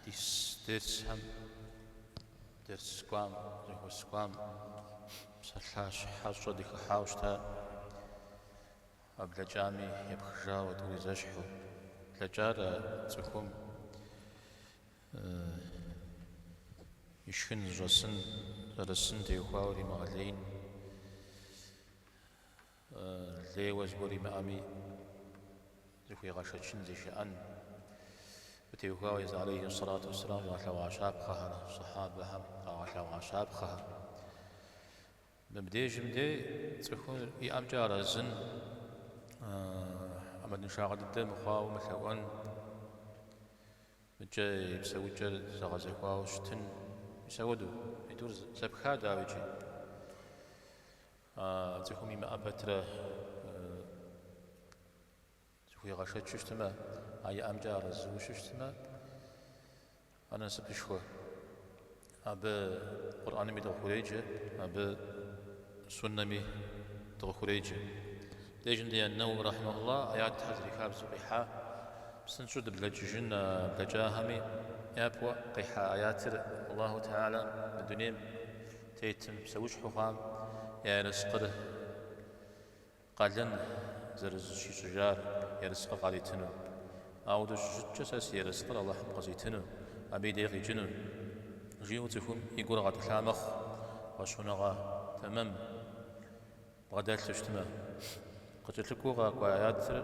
Ди дерсхэм, дерс кӏуам, зэхуэс кӏуам псалъащхьэщӏэ дыхыхьауэ щытакъэ, блэкӏами епхыжауэ тӏури зэщхьу. Блэкӏар а цӏыхум ишхын зыщӏэсын, зэрысын теухуауэ римыгъэлеин. Лейуэ зыгуэр имыӏэми, зыхуигъэшэчын, зишыӏэн. Абы теухуауэ Езы алейхи сэлату уэсселам къигъэлъэгъуа щапхъэхэр, Сыхьэбэхэм къагъэлъэгъуа щапхъэхэр. Мыбдежым де цӏыхур иӏэмкӏэ арэзын, ӏэмалыншагъэ дыдэ мыхъуауэ мылъэӏуэн, мыкӏэ и псэукӏэр зэгъэзэхуауэ щытын. Мис ауэду, и тӏур зэпха, дауи, иджы. А цӏыхум имыӏэ пэтрэ зыхуигъэшэчу щытмэ, а иӏэмкӏэ арэзыу щыщтмэ, ар насыпышхуэ. Абы Къурӏэнми дыкъыхуреджэ, абы Суннэми дыкъыхуреджэ. Дежым дэ ан-Нэуауи рахьмэхулла аятхэ зэрихабзэу къихьа, псынщӏэу дыблэкӏыжын а блэкӏахэми япэу къихьа аятыр Аллаху Теалэ мы дунейм Тетым, псэущхьэу хъуам я ерыскъыр къалэн зэрызыщищӏыжар, ерыскъыр къаритыну. Ауэду щыщыткӏэ сэ си ерыскъыр Алыхьым къызитыну, абы и дей къикӏыну, жиӏэу цӏыхум и гур гъэтӏылъа мэхъу, фӏэщхъуныгъэ тэмэм бгъэдэлъу щытмэ. Къыкӏэлъыкӏуэу къэкӏуа аятыр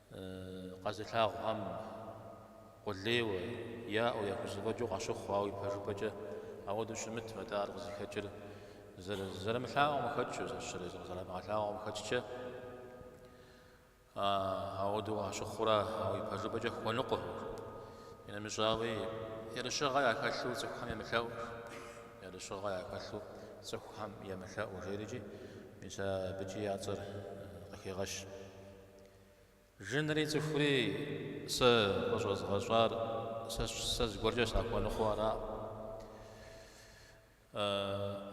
Къэзылъагъухэм къулейуэ, яӏэу, яхузэфӏэкӏыу къащыхъу, ауэ ипэжыпӏэкӏэ ауэдэу щымытым. Атӏэ ар къызыхэкӏыр зэрымылъаӏуэм къыхэкӏыу, зэщэрэ зэрамыгъэлъагъуэм къыхэкӏкӏэ ауэдэу къащыхъурэ, ауэ ипэжыпӏэкӏэ хуэныкъуэ. Иримыщӏауи, ерыщыгъэ яхэлъу цӏыхухэм емылъэӏу, ерыщыгъэ яхэлъу цӏыхухэм емылъэӏу жери, мис абыкӏи я цӏэр къыхегъэщ. Жынри цӏыхури сэ къыщӏэзгъэщӏар сэ зыгуэркӏэ сахуэныкъуэу араӏым.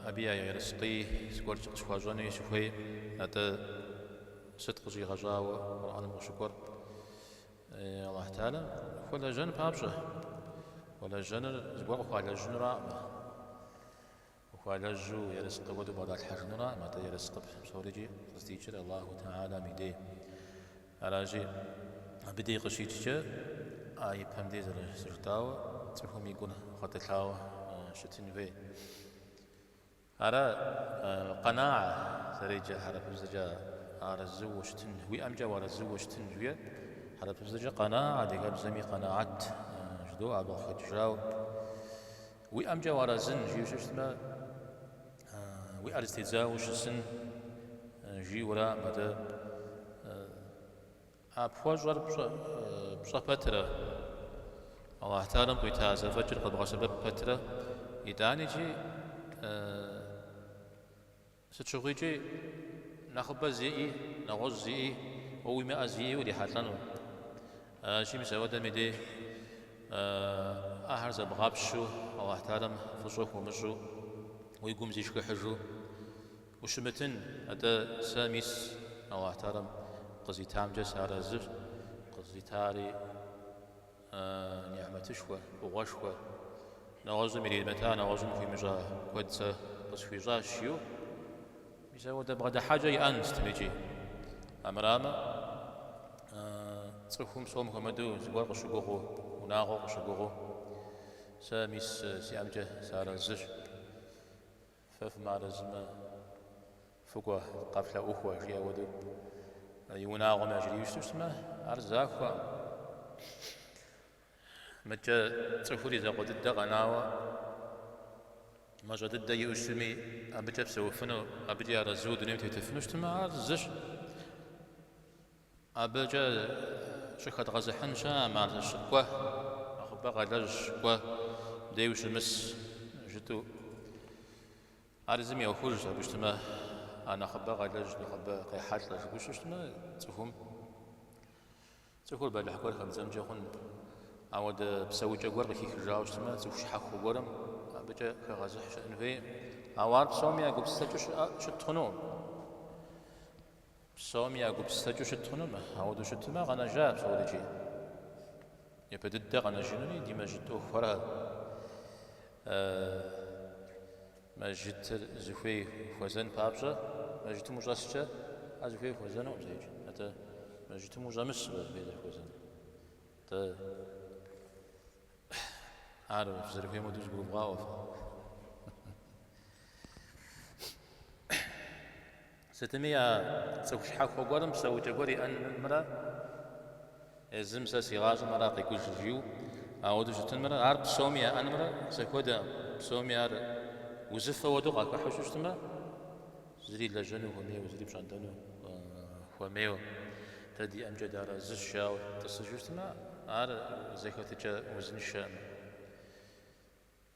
Абы я ерыскъи зыгуэркӏэ къысхуащӏэнуи сыхуейкъым. Атӏэ сыт къыщӏигъэщӏауэ Къурӏэным къыщыкӏуэр? Алыхь Теалэ хуэлэжьэн папщӏэ, хуэлэжьэныр зыгуэр къыхуалэжьынураӏымэ. Ухуалэжьу ерыскъы куэду бгъэдалъхьэжыну аракъым, атӏэ ерыскъы псорикӏи къыздикӏыр Аллаху тэхьэлам и дей. Аращи, абы дей къыщикӏкӏэ а ипэм дей зэрыжытӏауэ цӏыхум и гур гъэтӏылъауэ щытын хуей. Ара къэнаа зэреджэ хьэрыпыбзэкӏэ арэзыуэ щытын, уиӏэмкӏэ уарэзыуэ щытын жиӏэр. Хьэрыпыбзэкӏэ къэнаа адыгэбзэми къэнаат жыдоӏэ, абы къыхэкӏыжауэ. Уиӏэмкӏэ уарэзын, жиӏэу щыщытмэ, уи ӏэр зэтедзауэ ущысын, жиӏэу аракъым. Атӏэ а пхуэщӏэр пщӏэ пэтрэ, Алыхь Тэхьэлам къуита зэфӏэкӏыр къэбгъэсэбэп пэтрэ, итӏаникӏи Сыт щыгъуикӏи, нэхъыбэ зиӏи, нэгъуэщӏ зиӏи, уэ уимыӏэ зиӏи урихьэлӏэну. Аращи, мис апхуэдэм и дей ахэр зэбгъапщу, Алыхь Тэхьэлам фӏыщӏэ хуумыщӏу, уи гум зишхыхьыжу ущымытын. Атӏэ сэ мис Алыхь Тэхьэлам къызитамкӏэ сыарэзыщ, къызитари Нихьмэтышхуэ, фӏыгъуэшхуэ, нэгъуэщӏым иримыта, нэгъуэщӏым хуимыщӏа куэд сэ къысхуищӏащ, жиӏэу. Мис ауэдэ бгъэдыхьэкӏэ иӏэн сытымикӏи. Амырамэ, цӏыхум псом хуэмыдэу зыгуэр къыщыгугъыу, унагъуэу къыщыгугъыу, сэ мис сиӏэмкӏэ сыарэзыщ. Фэ фымыарэзымэ, фыкӏуэ, къэфлъэӏухуэ, жиӏэ хуэдэу и унагъуэм яжриу щыту щытмэ, ар захуэкъым. Атӏэ цӏыхур и закъуэ дыдэ къэнауэ, мащӏэ дыдэ иӏэу щытми, абыкӏэ псэуфыну, абыкӏи арэзыу дунейм тетыфыну щытмэ, ар зыщ. Абыкӏэ щӏыхэдгъэзыхьын щыӏэкъым, аращи кӏуэ, нэхъыбэ къэлэжь щыкӏуэ дей ущымыс жытӏу. Ар езым и ӏуэхужщ, абы щытмэ, а нэхъыбэ къэлэжь, нэхъыбэ къехьэлӏэ жытӏу щыщытмэ цӏыхум. Цӏыхур бэлыхь гуэр хэбдзэнкӏэ хъун. Ауэдэ псэукӏэ гуэр къыхихыжауэ щытмэ, цӏыху щхьэхуэ гуэрым абыкӏэ хэгъэзыхь щыӏэн хуейкъым. Ауэ ар псоми я гупсысэкӏэу щыт хъунукъым. Псоми я гупсысэкӏэу щыт хъунукъым, ауэдэу щытмэ, къэнэжа псорикӏи. Япэ дыдэ къэнэжынури ди мэжьыт ӏуэхухэра. Мэжьытыр зыхуей хуэзэн папщӏэ, мэжьытым ущӏэскӏэ, ар зыхуей хуэзэнукъым зэикӏ. Атӏэ мэжьытым ущӏэмысу зыхуей зэрыхуэзэн. Атӏэ ар зэрыхуейм хуэдэу зыгурывгъаӏуэ фэ. Сытми а цӏыху щхьэхуэ гуэрым псэукӏэ гуэр иӏэнымрэ езым сэ си гъащӏэм ар къекӏущ жиӏэу ауэдэу щытынымрэ, ар псоми яӏэнымрэ зэхуэдэкъым, псоми ар узыфэ хуэдэу къахыхьу щыщтымэ, зыри лэжьэну хуэмейуэ, зыри пщӏэнтӏэну хуэмейуэ, дэ диӏэмкӏэ дарэзыщ жаӏэу тӏысыжу щытмэ, ар зэхэтыкӏэ узыншэкъым.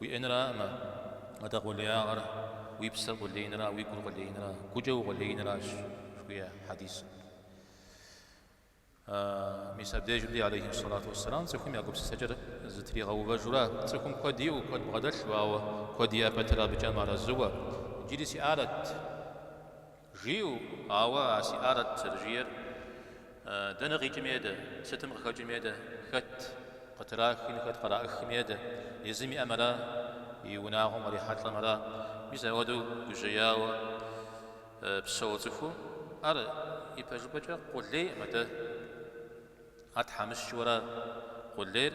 Уиӏэнракъым, атӏэ къулеягъэр уи псэр къулеинра уи гур къулеинра, гукӏэ укъулеинращ, жыхуиӏэ хьэдисым. Мис абдежым, алейхи салату уассалам, цӏыхум я гупсысэкӏэр зэтригъэувэжурэ, цӏыхум куэд иӏэу, куэд бгъэдэлъу, ауэ куэд иӏэ пэтрэ абыкӏэ мыарэзыуэ, Иджыри сиӏарэт. Жиӏэу, ауэ а сиӏарэт зэрыжиӏэр, дэнэ къикӏыми едэ, сытым къыхэкӏыми едэ, хэт къытрахми, хэт къраӏыхми едэ, езым иӏэм ара, и унагъуэм кърихьэлӏэм ара. Мис ауэдэу гужьеяуэ псэуэ цӏыхум ар ипэжыпӏэкӏэ къулейкъым, атӏэ ар тхьэмыщкӏэу ара. Къулейр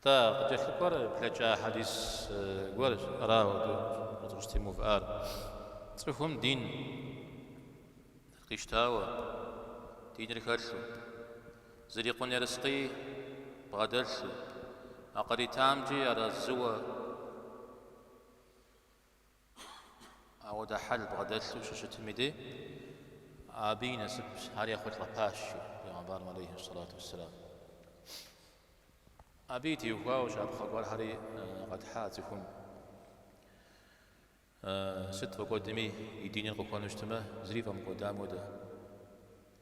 Нтӏэ, къыкӏэлъыкӏуэр блэкӏа хьэдис гуэрщ, ара, ауэ дыкъыщытемыувыӏар. Цӏыхум дин къищтауэ, диныр хэлъу, зрикъун ерыскъыи бгъэдэлъу, а къыритамкӏи арэзыуэ, Ауэдэ хьэл бгъэдэлъу щыщытым и де, абы и насып, ари ехъулӏэпащ, жи Пегъэмбарым алейхи салату вассалам. Абы и теухуауэ щапхъэ гуэрхэри къэтхьа. Цӏыхум сыт фӏэкӏуэдми и диныр къыхуэну щытмэ, зыри фӏэмыкӏуэдам хуэдэ.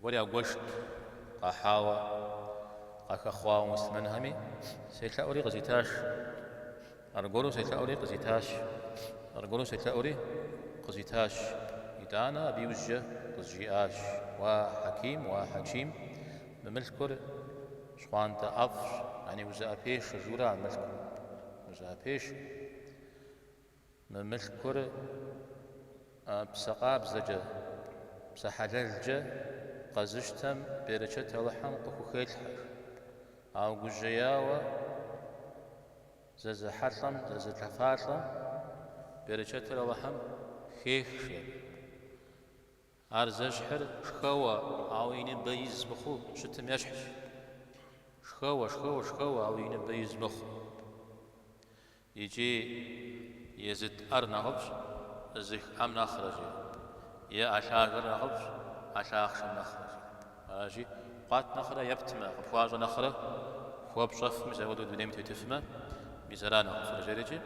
Гуэр ягуэшт, къахьауэ, къахэхъуауэ муслъымэнхэми, селъэӏури къызитащ. Аргуэру селъэӏури къызитащ. Аргуэру селъэӏури къызитащ. Итӏанэ абы иужькӏэ къызжиӏащ, Уа, Хьэким, уа, Хьэким, мы мылъкур щхъуантӏэ ӏэфӏщ, яни узыӏэпешэ, жиӏэу ара мылъкум, узыӏэпешэ. Мы мылъкур псэ къабзэкӏэ, псэ хьэлэлкӏэ къэзыщтэм берычэт Алыхьым къыхухелъхьэ. Ауэ гужьеяуэ, зэзыхьэлӏэм, зэзылъэфалӏэм берычэтыр Алыхьым хехыж. Ар зэщхьыр шхэуэ, ауэ и ныбэ из мыхъуу щытым ещхьщ. Шхэуэ, шхэуэ, шхэуэ, ауэ и ныбэ из мыхъуу. Икӏи езыт ӏэр нэхъыфӏщ зых ӏэм нэхърэ жи, е ӏэ лъагэр нэхъыфӏщ ӏэ лъахъшэм нэхърэ жи. Аращи, къуат нэхърэ ептмэ, къыпхуащӏэ нэхърэ, хуэпщӏэфми мис ауэдэу дунейм тетыфмэ, мис ара нэхъыфӏыр жери икӏи,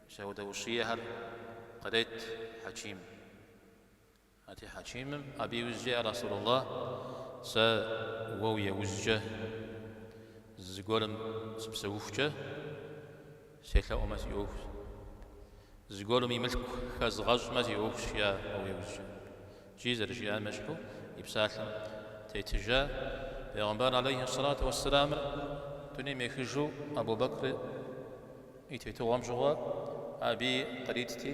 мис ауэдэ ущиехэр кърет Хьэким. Ати Хьэкимым, абы иужькӏэ, я Расулуллахь, сэ уэ уи ужькӏэ зыгуэрым сыпсэухукӏэ, селъэӏумэ си ӏуэхущ, зыгуэрым и мылъку хэзгъэщӏмэ си ӏуэхущ, жиӏэ уэ уи ужькӏэ. Икӏи зэрыжиӏам ещхьу и псалъэм тетыжа Пегъымбар алейхи ссалату уэссэламыр дунейм ехыжу Абу Бэкр и тетыгъуэм щыгъуэ абы и къритти,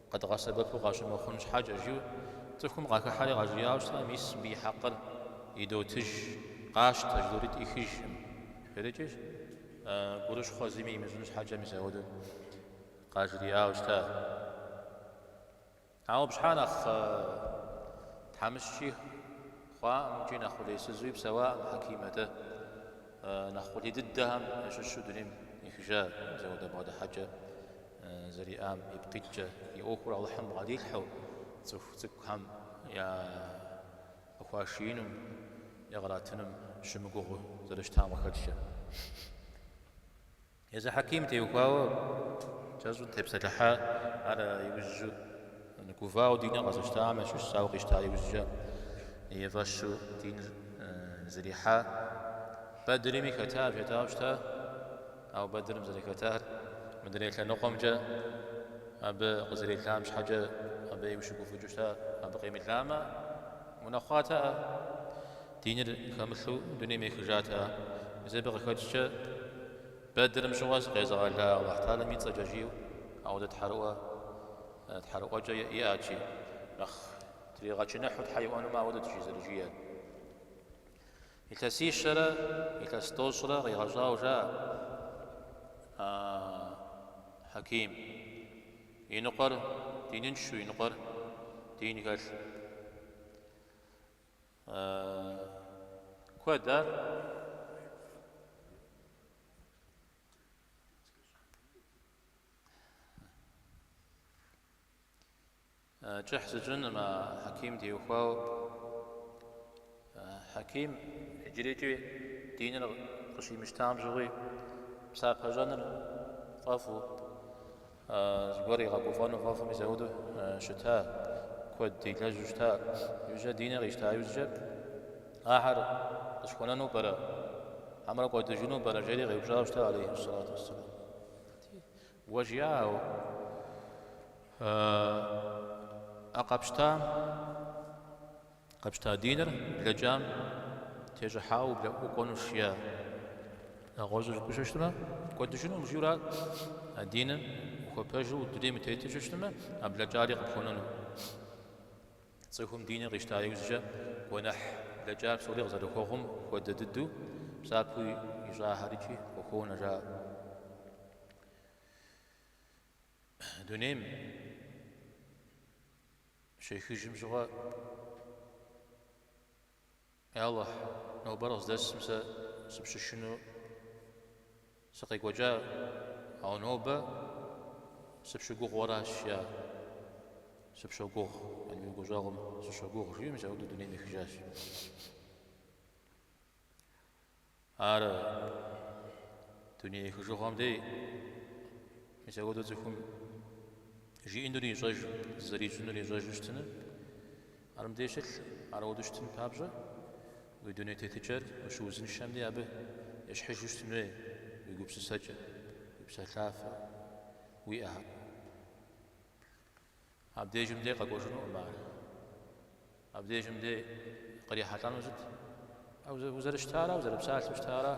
Къэдгъэсэбэпу къащымыхъун щхьэкӏэ, жиӏэу цӏыхум къахыхьэри къажриӏауэ щыта, мис мыбы и хьэкъыр идотыж, къащтэ, жыдоӏэри ӏихыжкъым жери икӏи, гурыщхъуэ зыми имыщӏын щхьэкӏэ мис апхуэдэу къажриӏауэ щыта. Ауэ абы щхьэ нэхъ тхьэмыщкӏи хъуакъым икӏи нэхъ къулейсызуи псэуакъым Хьэким, атӏэ, нэхъ къулей дыдэхэм ящыщу дунейм ехыжа мис апхуэдэ бгъэдыхьэкӏэ зэриӏам ипкъ иткӏэ, и ӏуэхур Алыхьым бгъэдилъхьэу цӏыху цӏыкӏухэм я къыхуашиинум, я къыратынум щымыгугъыу зэрыщытам къыхэкӏкӏэ. Езы Хьэким теухуауэ кӏэщӏу тепсэлъыхьа, ар иужьу гувауэ диныр къэзыщтам ящыщщ, ауэ къищта иужькӏэ и фӏэщу диныр зэрихьа Бэдрми хэта, хэтауэ щыта. Ауэ Бэдрым зэрыхэтар мыдрей лъэныкъуэмкӏэ абы къызэрелам щхьэкӏэ абы ину щыгуфӏыкӏыу щыта, абы къемыламэ, унэхъуатэӏэ, диныр хэмылъу дунейм ехыжатэӏэ. Мис абы къыхэкӏкӏэ Бэдрым щыгъуэ сыкъезыгъэла Алыхь Тэхьэлам и цӏэкӏэ жиӏэу ауэдэ тхьэрыӏуэ, тхьэрыӏуэкӏэ иӏэти, нэхъ тригъэчыныхьу Тхьэ иӏуэнумэ ауэдэт жи зэрыжиӏэр. Илъэсищэрэ илъэс тӏощӏрэ къигъэщӏауэ жаӏэ, А, Хьэким, иныкъуэр диныншэу и ныкъуэр дин хэлъу. Куэд ар? Кӏыхь сщӏынкъым, а Хьэким теухуауэ. Хьэким иджырейкӏи диныр къыщимыщтам щыгъуи, псапэщӏэныр фӏэфӏу, зыгуэр игъэгуфӏэну фӏэфӏу мисэуду щыта, куэд илэжьу щыта. Иужькӏэ диныр къищта иужькӏэ, ахэр къысхуэнэну пӏэрэ, хьэмэрэ кӏуэдыжыну пӏэрэ, жери къеупщӏауэ щыта, алейхьиссалату уассалам. Уэ жиӏауэ, ӏэ къэпщта, къэпщта диныр блэкӏам тещӏыхьауэ ублэӏукӏуэнущ, я, нэгъуэщӏу жыпӏэу щыщытмэ, кӏуэдыжынукъым жиӏэурэ а диныр ухуэпэжу дунейм утету щыщытмэ, а блэкӏари къыпхуэнэну. Цӏыхум диныр къищта иужькӏэ гуэныхь блэкӏар псори къызэрыхуэгъум хуэдэ дыдэу псапэу ищӏахэр икӏи къыхуонэ жаӏэ. Дунейм щехыжым щыгъуэ Алыхь, нобэр къыздэсым сэ сыпщышыну сыкъекӏуэкӏа, ауэ нобэ сыпщыгугъыу аращ, я, сыпщогугъ, яни уи гущӏэгъум сыщогугъ, жиӏэ, мисэуду дунейм ехыжащ. Ар дуней ехыжыгъуэм дей мис апхуэдэу цӏыхум жиӏэнур ищӏэжу, зэрищӏынур ищӏэжу щытыну. Ар мыбдеж щылъ, ар ауду щытын папщӏэ, уи дуней тетыкӏэр ущыузыншэм дей абы ещхьыжу щытын хуей уи гупсысэкӏэр, уи псалъафэр, уи ӏыхьэр. Абдежым дей къэкӏуэжынукъым ар. Абдежым дей кърихьэлӏэнур сыт? Узэрыщытара, узэрыпсалъэу щытара?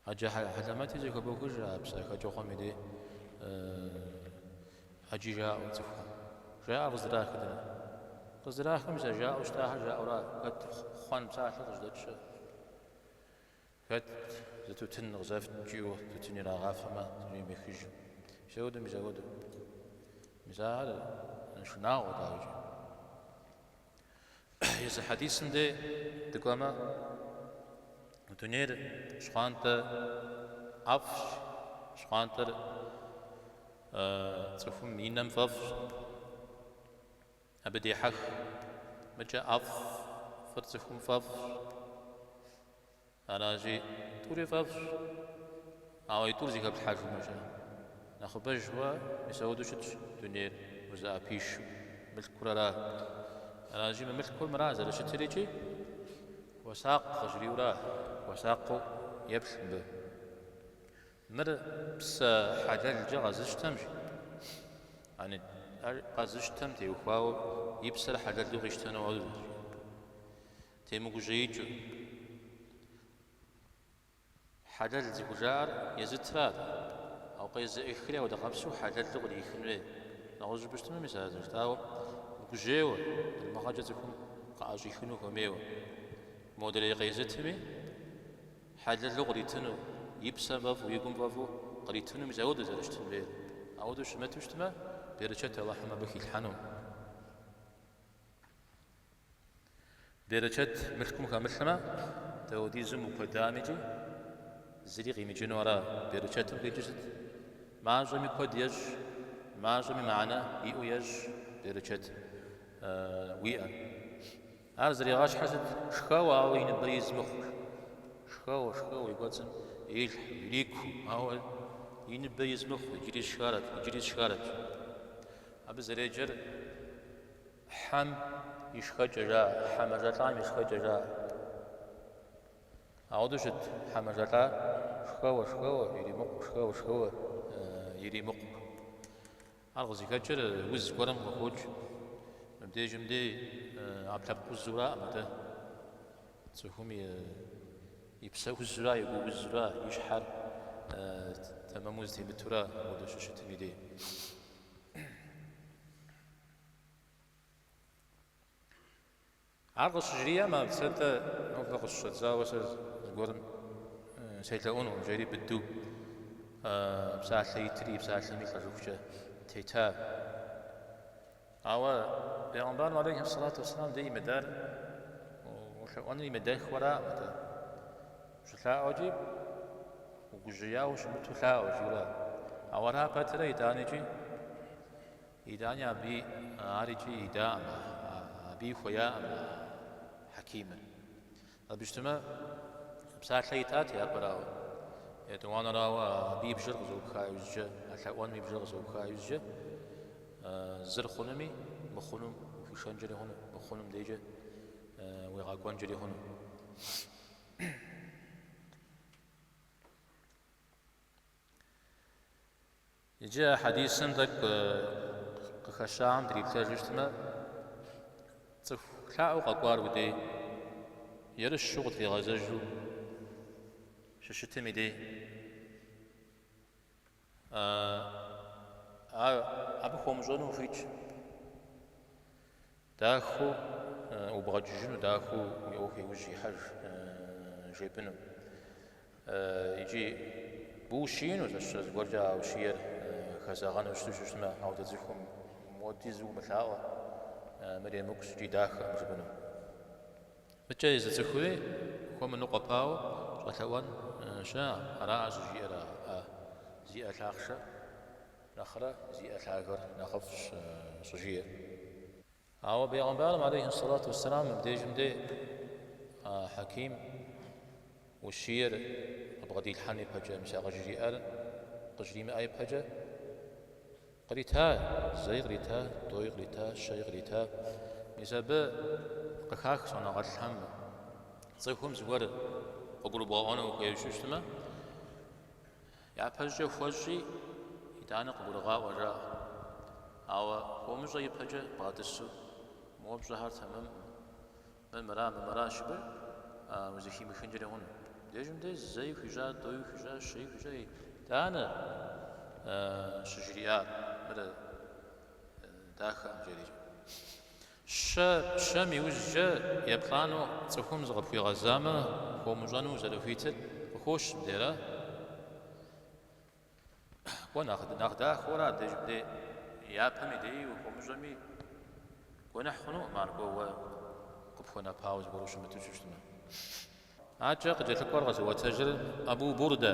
Ӏэджэ хьэлэмэти зэхэбохыж а псэ хэкӏыгъуэм и дей ӏэджи жаӏэу цӏыхухэм. Жаӏэр къыздрахыр дэнэ? Къыздрахыр мис а жаӏэу щытахэр жаӏэура, хэт хъуэн псалъэ къыжьэдэкӏ. Хэт зы тутын къызэфт кӏийуэ тутын ирагъафэмэ дунейм ехыж. Мисэуду, мисэуду. Мис ахэр шынагъуэ дауикӏи. Езы хьэдисым де дыкӏуэмэ, дунейр щхъуантӏэ ӏэфӏщ, щхъуантӏэр цӏыхум и нэм фӏэфӏщ. Абы дехьэх, мыкӏэ ӏэфӏ, ӏэфӏыр цӏыхум фӏэфӏщ. Аращи, тӏури фӏэфӏщ. Ауэ и тӏур зэхэплъхьэжумэкӏэ, нэхъыбэжу мисауду щытщ дунейр узыӏэпишэу, мылъкур ара? Аращи, мы мылъкур мыра зэрыщытыр икӏи? Хуэсакъ къыжриӏэура? Хуэсакъыу еплъ мыбы. Мыр псэ хьэлэлкӏэ къэзыщтэмщ, яни, ар къэзыщтэм теухуауэ и псэр хьэлэлу къищтэну хуэдэщ. Темыгужьеикӏыу, хьэлэл зыхужаӏэр езытра, ауэ къезыӏыхри апхуэдэ къабзэу хьэлэлу кърихын хуей. Нэгъуэщӏу жыпӏэу щытмэ, мис а зэрыжытӏауэ мыгужьейуэ, залымыгъэкӏэ цӏыхум къыӏэщӏихыну хуэмейуэ. Модрей къезытми, Хьэлэлу къритыну, и псэм фӏэфӏу, и гум фӏэфӏу къритыну мис ауэдэу зэрыщытын хуейр. Ауэдэу щымыту щытмэ, берычэт Алыхьым абы хилъхьэну. Берычэт мылъкум хэмылъмэ, дауэдизыму куэдамикӏи зыри къимыкӏыну ара? Берычэтым къикӏыр сыт? Мащӏэми куэд ещӏ, мащӏэми мыхьэнэ иӏэу ещӏ берычэт уиӏэм. Ар зэригъащхьыр сыт? Шхэуэ, ауэ и ныбэр из мыхъур. Шхэуэ, шхэуэ, и кӏуэцӏым илъхьу, ирикуэу, ауэ и ныбэ из мыхъу, иджыри сшхарэт, иджыри сшхарэт. Абы зэреджэр хьэм и шхэкӏэ жаӏэ, хьэ мэжэлӏам и шхэкӏэ жаӏэ. Ауэдэу щыт хьэ мэжэлӏа? Шхэуэ, шхэуэ, иримыкъу, шхэуэ, шхэуэ, иримыкъу. Ар къызыхэкӏыр уз гуэрым къыхокӏ. Мыбдежым дей ӏэпкълъэпкъ узураӏым атӏэ. Цӏыхум и псэ узура, и гу узура, и щхьэр тэмэму зэтемытура апхуэдэу щыщытым и дей. Ар къыщыжриӏэм, абы, сэ нтӏэ нобэ къыщыщӏэдзауэ сэ зыгуэрым селъэӏунукъым, жери быдэу псалъэ итри, псалъэми лӏэжыхукӏэ тетар. Ауэ Бегъымбарым алейхи салату вассалам дэ имыдэр улъэӏуэныр имыдэххэураӏым атӏэ. Щылъаӏуэкӏи угужьеяуэ щымыту лъаӏуэ жиӏэу. Ауэ ара пэтрэ итӏанэкӏи? Итӏани абы арикӏ идаӏым, абыи хуеяӏым Хьэкимыр. Абы щытымэ, псалъэ итат япэрауэ, етӏуанэрауэ абы и бжэр къызэӏупха иужькӏэ, а лъэӏуэным и бжэр къызэӏупха иужькӏэ, зыр хъунуми, мыхъунум ухуишэнкӏэри хъуну, мыхъунум дейкӏэ уегъэкӏуэнкӏэри хъуну. Иджы а хьэдисым тӏэкӏу къыхэщагъэм дриплъэжу щытмэ, цӏыху лъаӏуэу къэкӏуар уи дей, ерыщу къытригъэзэжу щыщытым и дей. Ар абы хуумыщӏэну ухуитщ. Дахэу убгъэкӏыжыну, дахэу уи ӏуэху иужь ихьэж жепӏыну икӏи бущиину, зэщыщӏэ зыгуэркӏэ а ущиер хэзэгъэну щыту щыщтмэ, ауэ дэ цӏыхум модизу умылъаӏуэ, мыр емыкӏущ икӏи дахэкъым жыпӏэну. Мыкӏэ езы цӏыхури хуэмыныкъуэпауэ щӏэлъэӏуэн щыӏэкъым, аракъэ щӏыжиӏэр а зи ӏэ лъахъшэм. Нэхърэ зи ӏэ лъагэр нэхъыфӏщ, щӏыжиӏэр. Ауэ Бегъымбарым алейхьи ссалату уэсселам мыбдежым де а Хьэким ущиер къыбгъэдилъхьэн ипэкӏэ, мис а къыжриӏар къыжримыӏэ ипэкӏэ, кърита, зэи кърита, тӏэуи кърита, щэи кърита. Мис абы къыхах щӏэныгъэлӏхэм цӏыхум зыгуэр къыгурыбгъэӏуэну хуейуэ щыщтмэ, Япэщӏыкӏэ хуэщӏи, итӏанэ къыгурыгъаӏуэ жаӏэ. Ауэ хуомыщӏэ ипэкӏэ бгъэтӏысу мы уэ пщӏэхэр тэмэмкъым. Мыр мыра, мыр мыра жыпӏэрэ, узыхимыхынкӏэри хъун. Дежым де зэи хуищӏа, тӏэуи хуищӏа, щэи хуищӏа, итӏанэ щыжриӏар мыр дахэкъым жери. Щэ, щэм иужькӏэ еплӏанэу цӏыхум зыкъыпхуигъэзамэ хуэмыщӏэну зэрыхуитыр къыхощ бдейрэ? Кӏуэ, нэхъ дахэурэ абдеж бдей япэм и деи ухуэмыщӏэми, гуэныхь хъунукъым ар кӏуэ уэ къыпхуэнэпауэ зыгуэр ущымыту щыщтмэ. Адэкӏэ къыкӏэлъыкӏуэр къэзыӏуэтэжыр Абу Бурдэ.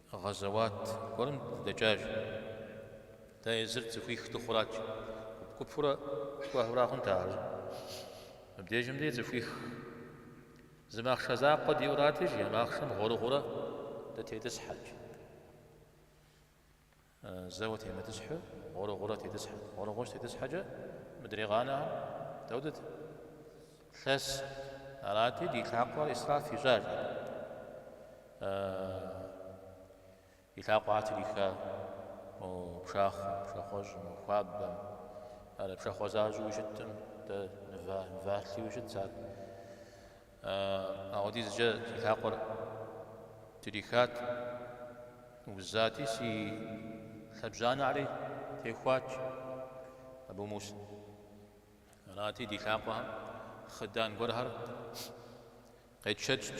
Гъэзэуат гуэрым дыдэкӏащ. Дэ езыр цӏыхуих дыхъурат, гуп-гупурэ кӏуэхэурэ хъунт ар. Мыбдежым дей цӏыхуих зы махъшэ закъуэ диӏэу арати, жи, а махъшэм гъуэрыгъуэурэ дытетӏысхьэт. Зэуэ темытӏысхьу, гъуэрыгъуэурэ тетӏысхьэт. Гъуэрыгъуэу щытетӏысхьэкӏэ мыдрей къанэхэр дауэт? Лъэс арати, ди лъакъуэр исраф ищӏат. И лъакъуэхэр триха мо пшахъуэм, пшахъуэщӏым, мо хуабэм, ар пшахъуэ защӏэуи щыттым, дэ нывалъэуи щытт ар. Апхуэдизкӏэ си лъакъуэр трихат, узати, си лъэбжьанэри техуат Абу Муса. Арати, ди лъакъуэхэм хъыдан гуэрхэр къетшэкӏт.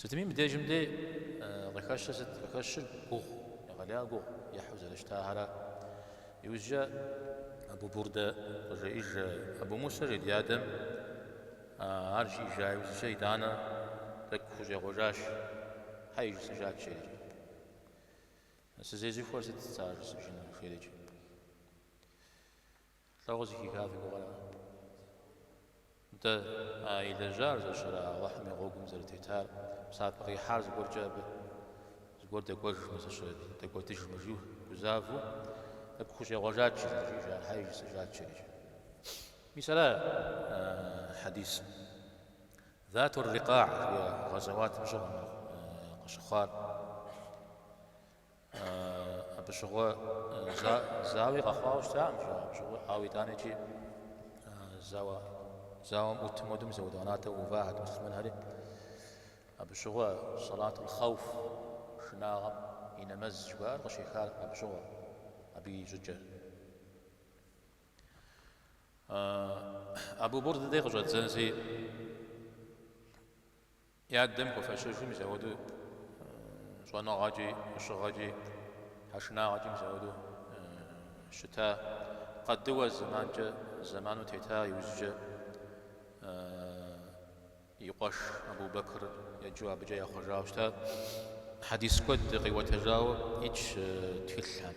Сытми мы дежым дей къыхэщыр сыт? Къыхэщыр гугъу, егъэлеяуэ гугъу ехьу зэрыщытахэра. Иужькӏэ Абу Бурдэ къыжеӏэж Абу Мусэ жей ди адэм ар жиӏэжа иужькӏэ итӏанэ тӏэкӏу хущӏегъуэжащ, Щхьэи жысӏэжат жейри. Сызезыхуэр сыт сэ ар жысӏэжыну жерикӏи? Лӏыгъэ зыхиха фи гугъэра? Нтӏэ, а илэжьар зэщӏэр Алыхьым и гъуэгум зэрытетар, псапэ къихьар зыгуэркӏэ абы? Зыгуэр дэкӏуэжмэ, зыщэ дэкӏуэдыжмэ, жиу гузавэу абы хущӏегъуэжат жи, зэрыжиӏэжар, щхьэи жысӏэжат жери иджы. Мис ара хьэдисым Затур-Рикъа жыхуиӏэ гъэзэуатым щыгъуэ къыщыхъуар? Абы щыгъуэ зауи къэхъуауэ щытакъым жи. Абы щыгъуэ, ауэ итӏанэ иджы зауэ зауэм ӏут модым зауэ ӏэнатӏэ увахэт муслъымэнхэри. Абы щыгъуэ салатул хауф шынагъэм и нэмэз жыхуаӏэр къыщехар абы щыгъуэ, абы и щӏыкӏэр. Абу Бурдэ дей къыщӏэддзэнщи И адэм хуэфэщыжу мызэуэду щӏэныгъэкӏи, ӏущыгъэкӏи, тхьэшынагъэкӏи мызэуэду щыта, къэдыуэ зэманкӏэ, зэману тета иужькӏэ и къуэш Абу-Бэкыр еджэу абыкӏэ яхъуэжауэ щыта. Хьэдис куэд къиуэтэжауэ итщ тхылъхэм.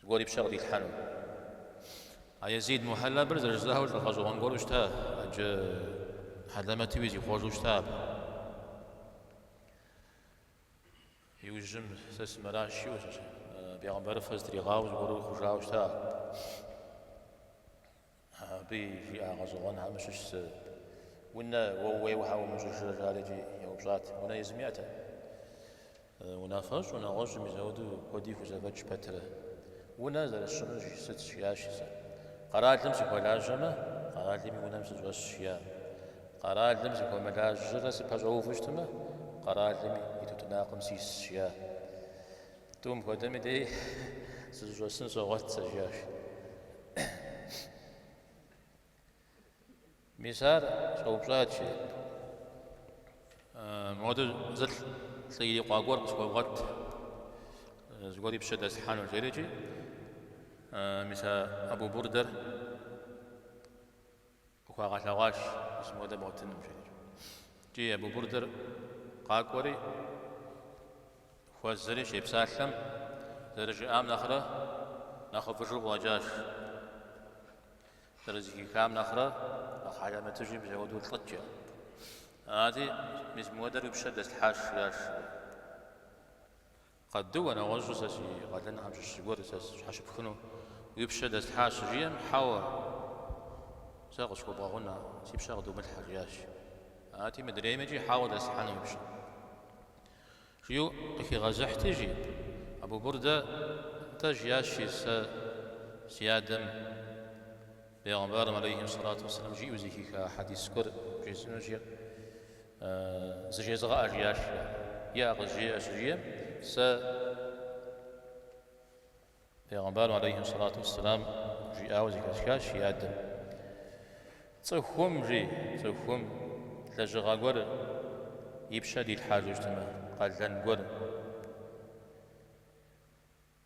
Зыгуэри пщэ къыдилъхьэну. А Езид Мухьэллабыр зэрыжысӏауэ лӏы гъэщӏэгъуэн гуэру щыта, ӏэджэ хьэлэмэтуи зихъуэжу щыта абы. Иужьым сэ сымыращ жиу, Бегъымбарыфэ зытригъауэ зыгуэру хъужауэ щыта. Абы и жиӏа гъэщӏэгъуэнхэм щыщ зэ, Унэ уэ ууейуэ щхьэ умыщӏыжрэ? жарикӏи еупщӏат. Унэ езым иӏэтэкъым. Унафэщӏ, унагъуэщӏ мызэуэду куэди хузэфӏэкӏ пэтрэ. Унэ зэрысщӏынур сыт? жиӏащ сэ. Къэралым сыхуэлажьэмэ, къэралым и унэм сыщӏэсщ, жиӏа. Къэралым сыхуэмылажьэрэ сыпэщӏэуву щытмэ, къэралым и тутнакъым сисщ, жиӏа. Тӏум хуэдэми дей сызыщӏэсын согъуэт, сэ, жиӏащ. Мис ар щӏэупщӏат жи, модэ зы лӏы ирикъуа гуэр къысхуэвгъуэт, зыгуэр и пщэ дэслъхьэну, жерикӏи, мис а Абу Бурдэр Къыхуагъэлъэгъуащ мис мыхуэдэ бгъуэтыным, жиӏэри. Икӏи Абу Бурдэр къакӏуэри, хуэзэри щепсалъэм, зэрыжиӏам нэхърэ нэхъыфӏыжу къыӏуэкӏащ, зэрызыхихам нэхърэ нэхъ хьэлэмэтыжи мызэуэду лӏыкӏэ. Ати, мис мыхуэдэр уи пщэ дэслъхьащ, жиӏащ. Къадыуэ, нэгъуэщӏу сэ си къалэнхэм щыщ зыгуэр сэ сщхьэщыпхыну уи пщэ дэслъхьащ, щыжиӏэм, Хьэуэ, сэ къысхуэбгъэгъун, а си пщэ къыдумылъхьэ, жиӏащ. Ати, мыдрейми икӏи хьэуэ дэслъхьэну уи пщэ. Жиӏэу къыхигъэзыхьти, жи Абу Бурдэ, нтӏэ, жиӏащ, жи сэ си адэм Бегъымбарым алейхьи сэлату уэсэлам жиӏэу зыхиха хьэдис гуэр бжесӏэнущ, жи. Зыжезыгъэӏэ, жиӏащ. Иӏэ, къызжеӏэ щыжиӏэм, сэ Пегъэмбарым алейхи салату уссалам жиӏауэ зыхэсхащ и адэм. Цӏыхум, жи, цӏыхум лэжьыгъэ гуэр и пщэ дилъхьэжа щытмэ, къалэн гуэр.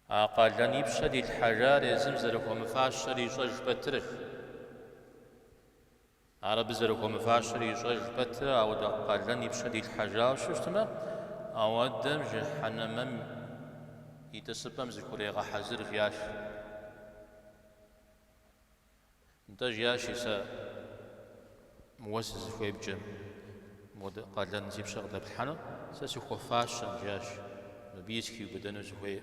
А къалэн и пщэ дилъхьэжар езым зэрыхуэмыфащэр ищӏэж пэтрэ. Ар абы зэрыхуэмыфащэр ищӏэж пэтрэ, ауэдэ къалэн и пщэ дилъхьэжауэ щытмэ, ауэдэм жыхьэнэмэм и тӏысыпӏэм зыхурегъэхьэзыр, жиӏащ. Нтӏэ, жиӏащи сэ, уэ сызыхуеймкӏэ мыхуэдэ къалэн си пщэ къыдэплъхьэну, сэ сыхуэфащэм, жиӏащ, мыбы сыхиубыдэну сыхуей.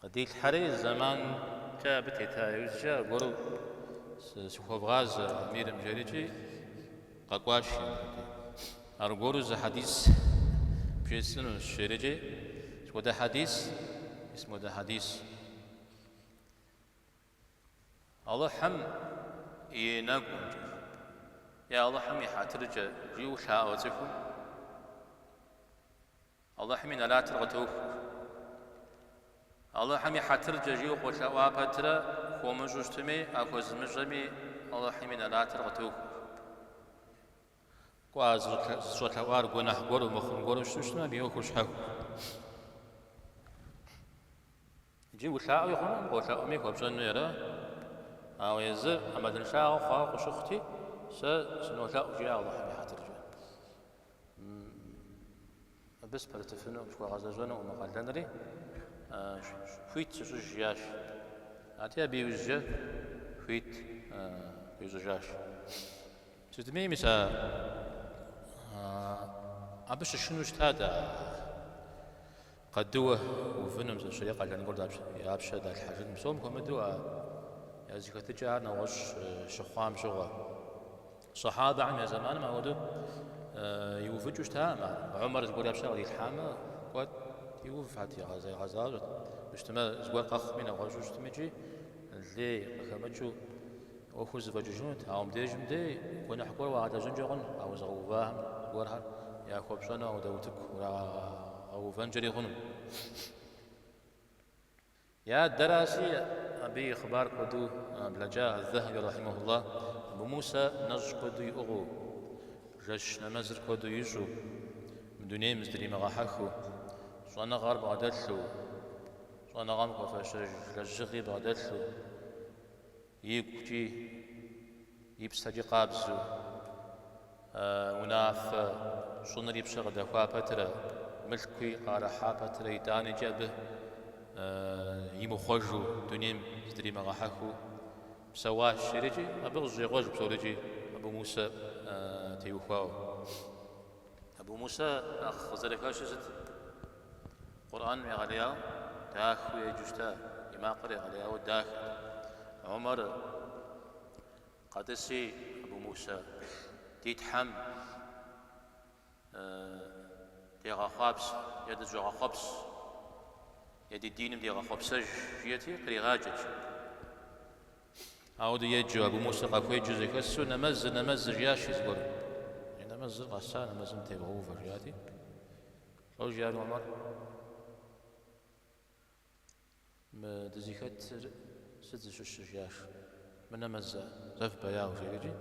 Къыдилъхьэри зэманкӏэ абы тета иужькӏэ аргуэру сыхуэвгъазэ Амирым жери икӏи къэкӏуащ. Аргуэру зы хьэдис бжесӏэнущ жери икӏи сыт хуэдэ хьэдис? Мис мыхуэдэ хьэдис. Алыхьым и нэгумкӏэ е Алыхьым и хьэтыркӏэ жиӏэу лъаӏуэ цӏыхум. Алыхьым и нэлатыр къытохуэ. Алыхьым и хьэтыркӏэ жиӏэу къолъэӏуа пэтрэ, хуумыщӏу щытми, а хуэзымыщӏэми Алыхьым и нэлатыр къытохуэ. Кӏуа, зыщӏэлъэӏуар гуэныхь гуэру, мыхъун гуэру щытмэ, абы и ӏуэхур щхьэхуэ. Икӏи улъаӏуи хъуну, къолъэӏуми хуэпщӏэну ара? Ауэ езыр ӏэмалыншагъэ хъуауэ къыщыхъути, сэ сынолъэӏу, жиӏэ Алыхьым и хьэтыркӏэ. Абы сыпэрытыфыну, схуэгъэзэщӏэнукъым мы къалэнри, хуит сыщӏыж, жиӏащ. Ати абы иужькӏэ хуит ищӏыжащ. Сытми, мис а абы щышыну щытат а Къэдыуэ увыным зыщри къалэн гуэр я пщэ далъхьэжын, псом хуэмыдэу а языхэтыкӏэ ар нэгъуэщӏ щыхъуам щыгъуэ. Сахьабэхэм я зэманым апхуэдэу иувыкӏыу щытакъым ар. Умар зыгуэр я пщэ кърилъхьамэ, кӏуэт иув хьэт егъэзащӏэрт, мыщтымэ зыгуэр къэхъуми нэгъуэщӏу щытымикӏи лей къыхэмыкӏыу. ӏуэхур зэфӏэкӏыжынут, ауэ мыбдеж мыдей гуэныхь гуэр уагъэлэжьэнкӏэ хъун, ауэ зыгъэувахэм зыгуэрхэр яхуэпщӏэну апхуэдэу утыку урагъэувэнкӏэри хъуну. Я адэраси, абы и хъыбар куэду блэкӏа Аль-Зэхьэби рахьимэхуллах, Абу Мусэ нэщӏ куэду иӏыгъыу, жэщ нэмэзыр куэду ищӏу, мы дунейм зыдримыгъэхьэхыу, щӏэныгъэр бгъэдэлъу, щӏэныгъэм хуэфащэж лэжьыгъи бгъэдэлъу, И гукӏи и псэкӏи къабзэу. А унафэ щӏыныр и пщэ къыдэхуа пэтырэ, мылъкуи къыӏэрыхьа пэтырэ итӏанэкӏи абы имыхъуэжу дунейм зыдримыгъэхьэхыу псэуащ жиӏэрикӏи абы къыщӏегъуж псорикӏи Абу Мусэ теухуауэ. Абу Мусэ нэхъ къызэрыхэщыр сыт? Къурӏэным егъэлеяуэ дахэу еджэу щыта, и макъыр егъэлеяуэ дахэт. Умэр къэтӏыси, Абу Мусэ, ди Тхьэм дегъэхъуапсэ е дыщӏэгъэхъуэпс е ди диным дегъэхъуэпсэж, жиӏэти, къригъаджэт. Апхуэдэу еджэу Абу Мусэ къахуеджэу зэхэсу, Нэмэзыр, нэмэзыр, жиӏащи зыгуэрым. Нэмэзыр къэса, нэмэзым тевгъэувэ, жиӏати, Лӏо, жиӏэри Омар, Мы дызыхэтыр сыт зыщыщыр? жиӏащ. Мынэмэзэ? Зэ фыбэяу, жиӏэкӏи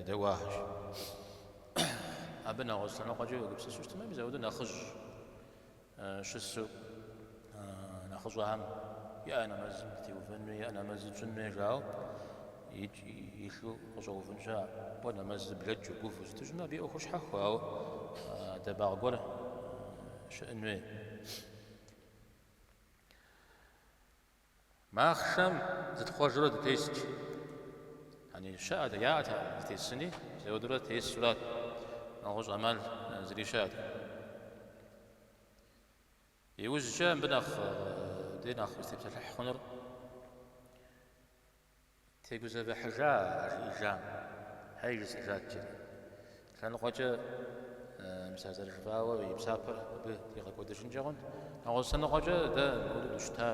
едэӏуахэщ. Абы нэгъуэщӏ лъэныкъуэкӏэ уегупсысу щытмэ, мис апхуэдэу нэхъыжь щысу. Нэхъыщӏэхэм я нэмэзым дытеувэнуи, я нэмэзы тщӏынуи жаӏэу, илъу къыщӏэувынщ абы нэмэзыр блэкӏыу гувэу щытмэ, абы и ӏуэхур щхьэхуэ, ауэ адэбагъ гуэр щыӏын хуей. Махъшэм зытхъуэжурэ дытест. Яни щыӏэт, яӏэт тесыни, апхуэдэурэ тесурат. Нэгъуэщӏ ӏэмал зыри щыӏэт. Иужькӏэ мыбы нэхъ дэ нэхъ узытепсэлъыхь хъунур тегузэвыхьыжа а жиӏэжам, щхьэ жысӏэжат жиӏэри. Лъэныкъуэкӏэ мис а зэрыжыфӏауэ и псапэр абы тригъэкӏуэдыжынкӏэ хъунт. Нэгъуэщӏ лъэныкъуэкӏэ дэ мыпхуэдэу дыщыта,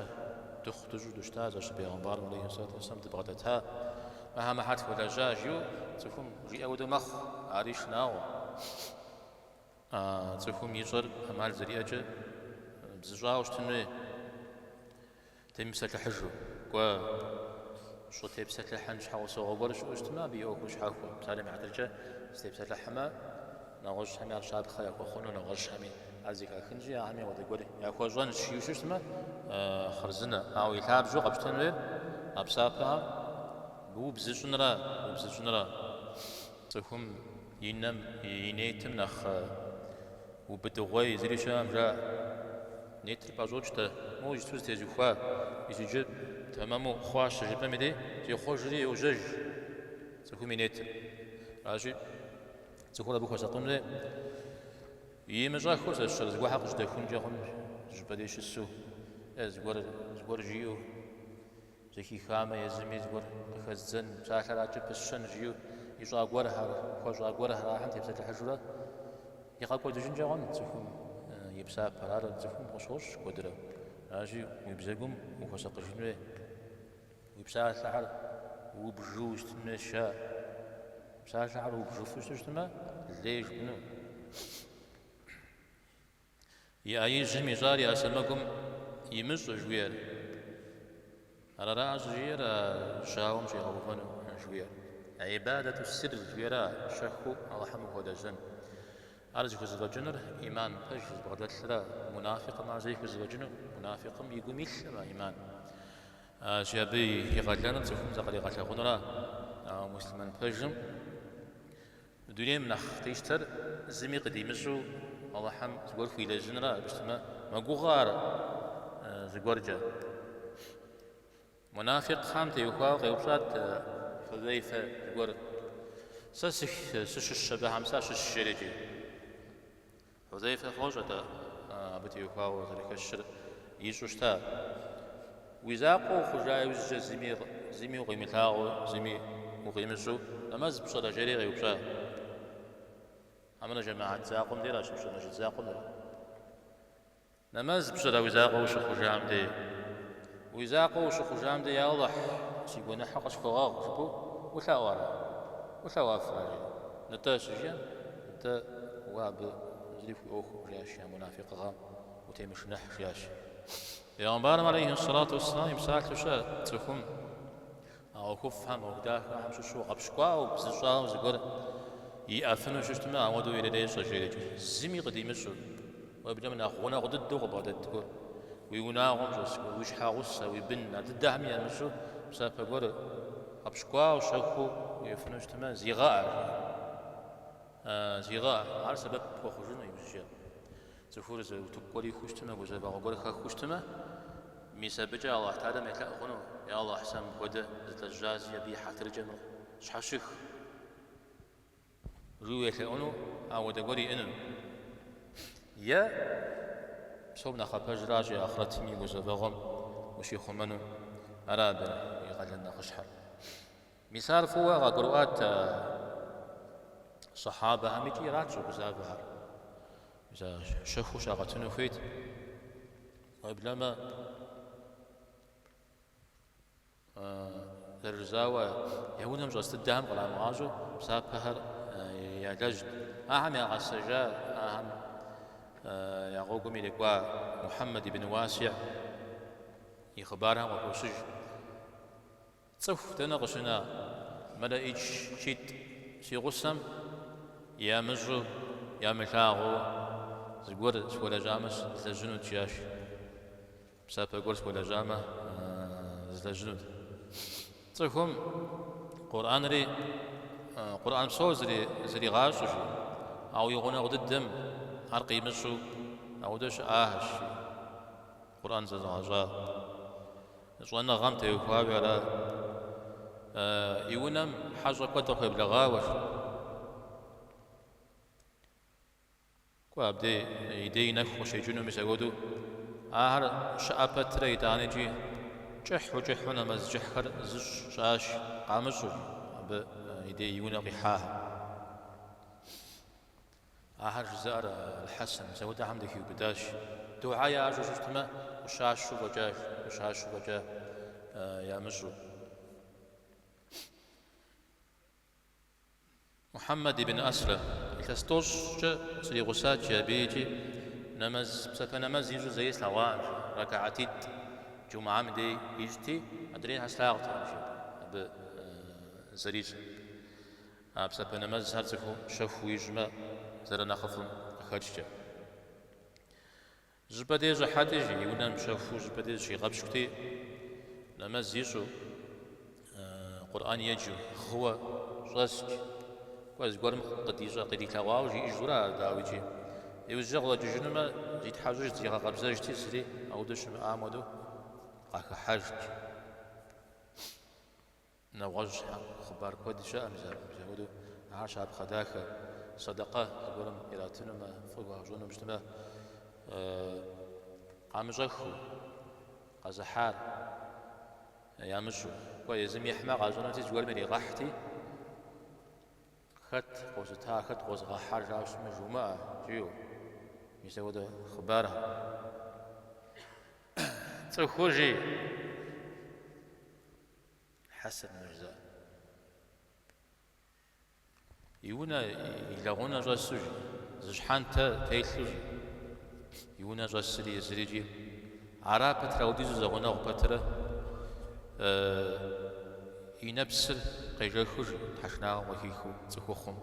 дыхъу дыщӏу дыщыта зэщ бегъымбарым алейхи салату уассалам дыбгъэдэта, мыхьэ мыхьэр тхуэлэжьа жиӏэу цӏыхум жиӏэ хуэдэу мэхъу, ари шынагъуэ. А цӏыхум ищӏэр ӏэмал зэриӏэкӏэ бзыщӏауэ щытын хуей, темыпсэлъыхьыжу, кӏуэ, щӏытепсэлъыхьын щхьэусыгъуэ гуэр щыӏэу щытмэ, абы и ӏуэхур щхьэхуэ. Псалъэм и хьэтыркӏэ сытепсэлъыхьмэ, нэгъуэщӏхэми ар щапхъэ яхуэхъуну, нэгъуэщӏхэми ар зэхахынщи, ахэми апхуэдэ гуэр яхуэщӏэнщ жиӏэу щыщытмэ, хъарзынэ. Ауэ и лъабжьэу къэпщтэн хуей а псапэхэр быубзыщӏынрэ убзыщӏынрэ. Цӏыхум и нэм и нетым нэхъ убыдыгъуей зыри щыӏэм жаӏэ. Нетыр пӏэщӏокӏ-тӏэ, моуэ иджыту зэтезухуа, иджыджыр тэмэму хъуащ щыжыпӏэм дей, зехъуэжри йожьэж цӏыхум и нетыр. Аращи, цӏыхур абы хуэсакъын хуей, имыщӏэххэу зэщэр зыгуэрхэр къыжьэдэхункӏэ хъунущ, зы щӏыпӏэ дей щысу, е зыгуэр зыгуэр жиӏэу. Зэхихамэ, езыми зыгуэр къыхэздзэн, псалъэр адэкӏэ пысщэн жиӏэу ищӏа гуэрхэр, хуэщӏа гуэрхэр ахэм тепсэлъыхьыжурэ игъэкӏуэдыжынкӏэ хъунущ цӏыхум и псапэр. Ар цӏыхум къыщощӏ куэдрэ. Аращи, уи бзэгум ухуэсакъыжын хуей, уи псалъэхэр убжу щытын хуейщ. Псалъэхэр убжыфу щыту щытмэ, лей жыпӏэну. И ӏэ ижьым ищӏар и ӏэ сэмэгум имыщӏэ жыхуиӏэр. Ар ара щӏыжиӏэр а жьауэм щӏигъэувэну жыхуиӏэр. Ибадэту сирр жыхуиӏэр щэхуу Алыхьым ухуэлэжьэн. Ар зыхузэфӏэкӏынур ӏиман пэж зыбгъэдэлъра, мунафикъым ар зэи хузэфӏэкӏыну, мунафикъым и гум илъра ӏиман. Аращи абы и къалэныр цӏыхум закъригъэлъэгъунра, ауэ муслъымэн пэжым Мы дунейм нэхъ къищтэр зыми къыдимыщӏу Алыхьым зыгуэр хуилэжьынра абы щытмэ мэгугъэ ар зыгуэркӏэ. Мунафикъхэм теухуауэ къеупщӏат Хьузайфэ зыгуэр, Сэ сыщыщ абыхэм, сащыщ жери? Хьузейфэ фощӏэ-тӏэ абы теухуауэ зэрыхэщыр ищӏу щыта? Уи закъуэ ухъужа иужькӏэ зыми, зыми укъимылъагъуу, зыми укъимыщӏу нэмэз пщӏэрэ? жери къеупщӏа. Хьэмрэ жэмыхьэт закъуэм дера щыпщӏыр, мэжджыт закъуэм деращ. Нэмэз пщӏырэ уи закъуэ ущыхъужам дей? Уи закъуэ ущыхъужам дей, я Алыхь, си гуэныхьыр къысхуэгъэгъу, жыпӏэу улъаӏуэрэ? Улъэӏуэфрэ, жи? Нтӏэ, щыжиӏэм, нтӏэ, уэ абы зыри хуиӏуэху, жиӏащ я мунафикъыгъэм, утемышынэхь, жиӏащ. Пэйгъэмбарым алейхьи сэлату уэсселам и псалъэу щыӏэт цӏыхум, А ӏуэхуфӏхэм ӏуэху дахэхэм щыщу гъэпщкӏуауэ, бзыщӏауэ зыгуэр иӏэфыну щыщтмэ, ауэдэу ирырещӏэ, жери икӏи, зыми къыдимыщӏу, уеблэмэ нэхъ гъунэгъу дыдэу къыббгъэдэт гуэр, уи унагъуэм щӏэс гуэр, уи щхьэгъусэ, уи бын, ар дыдэхэми ямыщӏу псапэ гуэр гъэпщкӏуауэ щэхуу уиӏэфыну щытмэ, зигъэӏэ, жиӏэ. Зигъэӏэ, ар сэбэп пхуэхъужыну ибжьэ. Цӏыхур зы утыку гуэр ихущтмэ, гузэвэгъуэ гуэр хэхущтмэ, мис абыкӏэ Алыхь Тэхьэлам елъэӏу хъуну, Е Алыхь, сэ мыпхуэдэ злэжьащи абы и хьэтыркӏэ мыр сщхьэщых! Жыу елъэӏуну ауэдэ гуэр иӏэну. Е, псом нэхъапэжращи ахърэтым и гузэвэгъуэм ущихъумэну, ара абы и къалэн нэхъыщхьэр. Мис ар фӏыуэ къагурыӏуат а сахьабэхэм икӏи ират щӏэгузавэхэр. Мис ар щэхуу щагъэтыну хуейт. Уеблэмэ зэрыжызауэ я унэм щӏэс дыдэхэм кърамыгъащӏэу псапэхэр ялэжьт. Ахэм ягъэсэжа, ахэм я гъуэгум ирикӏуа Мухьэммэд ибн Уасиӏ и хъыбархэм къыхощыж Цӏыху дэнэ къыщына мэлэӏичкитӏ си гъусэм ямыщӏу, ямылъагъуу зыгуэр схуэлэжьамэ слэжьынут, жиӏащ. Псапэ гуэр схуэлэжьамэ злэжьынут. Цӏыхум Къурӏэнри, Къурӏэн псор зригъэщӏауэ и гъунэгъу дыдэм ар къимыщӏу ауэдэ щыӏахэщ, жи. Къурӏэн зэзыгъэщӏа щӏэныгъэм теухуауи ара? И унэм хьэщӏэ куэд къыхуеблэгъауэщ. Кӏуэ, абдей и дей нэху къыщекӏыну мис апхуэдэу. Ахэр щыӏэ пэтрэ итӏани икӏи кӏыхьу кӏыхьу нэмэз кӏыхьхэр зыщӏ щыӏащ, къамыщӏу абы и дей и унэ къихьахэм. Ахэр жызыӏэр Алхьэсэн, мис ауэдэхэм дыхиубыдащ. Духьэ ящӏу щыщытмэ, ӏущащу фӏэкӏа, ӏущащу фӏэкӏа ямыщӏу. Мухьэммэд ибн Аслам, илъэс тӏощӏкӏэ сригъусат, жи, абы икӏи нэмэз, псапэ нэмэз ищӏу зэи слъэгъуакъым, рэкаатитӏ, джумӏам дей ищӏти, адрейхэр слъагъуртэкъым абы зэрищӏыр. А псэпэ нэмэзхэр цӏыхум щэхуу ищӏмэ, зэрынэхъыфӏым къыхэкӏкӏэ. Щӏыпӏэ дей щӏыхьэти, жи и унэм щэхуу щӏыпӏэ дей зыщигъэпщкӏути, нэмэз ищӏу, Къурӏэн еджэу, гъыуэ щӏэскӏ, кӏуэ зыгуэрым къыдищӏэ, къыдилъэгъуауэ жиӏэжурэ ар, дауикӏи, иужькӏэ къыщӏэкӏыжынумэ, зитхьэщӏыжти, зигъэкъэбзэжти, зыри аудэ щымыӏам хуэдэу къахыхьэжт. Нэгъуэщӏ хъыбар куэд щыӏэ мыпхуэду, ар щапхъэ дахэ. Сэдэкъэ зыгуэрым иратынумэ, фӏы хуащӏэну щытмэ, къамыщӏэхыу, къэзыхьар ямыщӏу, кӏуэ езым ихьмэ, къащӏэнути, зыгуэрым иригъэхьти, хэт къозыта, хэт къозыгъэхьар жаӏэу щытмэ, жумыӏэ, жиӏэу. Мис апхуэдэ хъыбар. Цӏыхур жи. Хьэсэн Мырза. И унэ, и лэгъунэ щӏэсу жи, зы щхьэнтэ телъу жи, и унэ щӏэсри езыри жи, ара пэтрэ аудизу зэгъунэгъу пэтырэ, и нэпсыр къежэхыу жи, тхьэшынагъэм къыхихыу цӏыхухъум,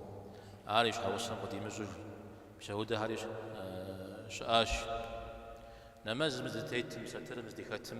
ар и щхьэгъусэм къыдимыщӏу жи, апхуэдэхэри щыӏащ. Нэмэзым зытетым, сатырым здихэтым,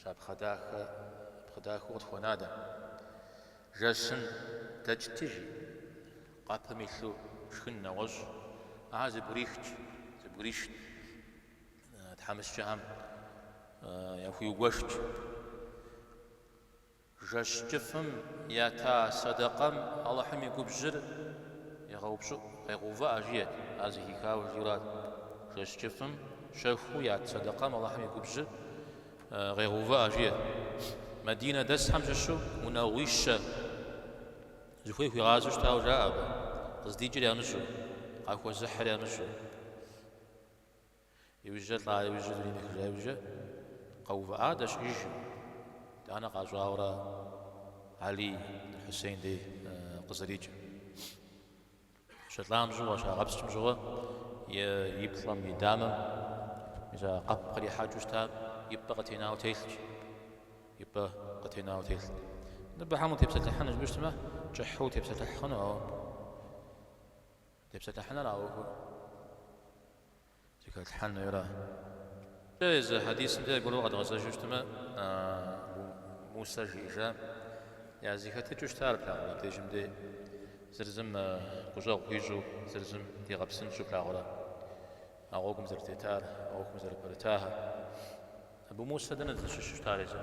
Щапхъэ дахэ, щапхъэ дахэу къытхуэна дэ. Жэщым дэкӏт жи, къэпым илъу шхын нэгъуэщӏ, ар зэбгрихкӏ, зэбгришт, тхьэмыщкӏэхэм яхуиугуэшкӏ. Жэщ кӏыфӏым ята сэдэкъэм Алыхьым и губжьыр егъэупщӏыӏу, къегъэувыӏэ жиӏэт, ар зэхихауэ жи арат. Жэщ кӏыфӏым щэхуу ят сэдэкъэм Алыхьым и губжьыр къегъэувыӏэ жиӏэт. Мадинэ дэсхэм щыщу унагъуищэ зыхуей хуигъазэу щытауэ жаӏэ абы, къыздикӏыр ямыщӏу, къахуэзыхьыр ямыщӏу. Иужькӏэ лӏа иужьыр зримыхыжа иужькӏэ къэувыӏа дэ щыӏижым, итӏанэ къащӏауэ ара Алий бин Хьусейн дей къызэрикӏыр. Щылӏам щыгъуэ щагъэпскӏым щыгъуэ и плӏэм, и дамэм мис а къэп кърихьэкӏыу щытам и пӏэ къытенауэ телъщ. И пӏэ къытенауэ телъ. Мыбыхэм утепсэлъыхьын жыпӏэу щытмэ, кӏыхьу утепсэлъыхь хъуну, ауэ. Тепсэлъыхьыныр а ӏуэхур зыхэлъхьэн хуейрэ? Кӏэ, езы хьэдисым дей аргуэру къэдгъэзэжу щытмэ, Абу Мусэ жиӏэжам я зэхэтыкӏэу щытар плъагъурэ абдежым де зыр зым гущӏэгъу хуищӏу, зыр зым дигъэпсынщӏу плъагъурэ а гъуэгум зэрытетар, а ӏуэхум зэрыпэрытахэр? Абу Мусэ дэнэ зыщыщу щытар езым?